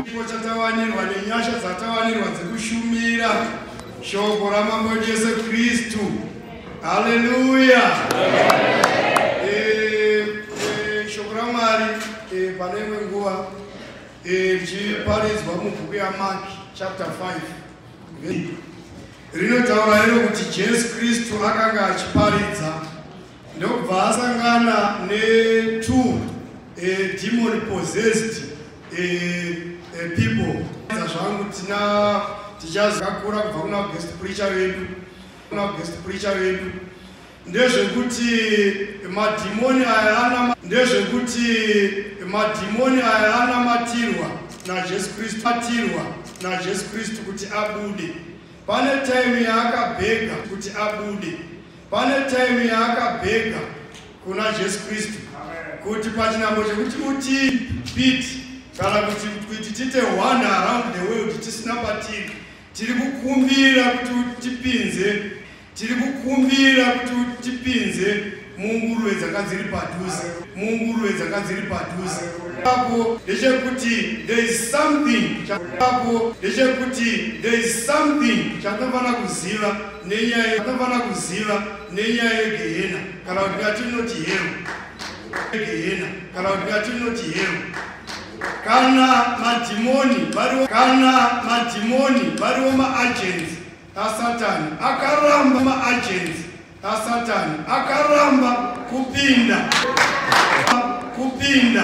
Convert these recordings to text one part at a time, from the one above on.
Chipo chatawanirwa nenyasha dzatawanirwa dzekushumira shoko ramambo Jesu Kristu. Haleluya! Eh, eh, shoko raMwari eh, pane imwe nguva eh, richiparidzwa mubhuku yaMaki chapter 5 rinotaura iro kuti Jesu Kristu akanga achiparidza ndokubva asangana ne two eh, demon possessed eh, eh, people zvangu tina tichazakura kubva kuna guest preacher vedu kuna guest preacher vedu ndezvekuti madhimoni aya ndezvekuti madhimoni aya anamatirwa najesu kristu atirwa najesu kristu kuti abude pane taimu yaakabhega kuti abude pane time yaakabhega kuna jesu kristu kuti pachinambo chekuti utipit kana kuti kuti tiite one around the world tisina patiri tiri kukumbira kuti utipinze tiri kukumbira kuti utipinze munguruve dzanga dziri padhuze munguruve dzanga dziri padhuze apo ndechekuti there is something apo ndechekuti there is something chatofanira kuziva nenyaya yakafanira kuziva nenyaya yegehena kana kuti ngatinoti hero gehena kana kuti ngatinoti hero kana madhimoni variwo kana madhimoni variwo maagensi asatani akaramba maagensi asatani akaramba kupinda kupinda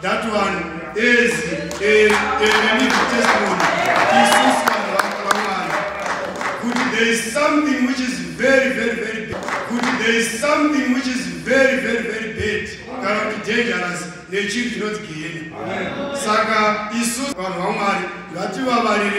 That one is a, a living testimony. There is something which is very, very, very bad. There is something which is very, very, very bad. Kana kuti dangerous nechinhu chinonzi gehena. Saka isu vanhu vaMwari ngativavarire.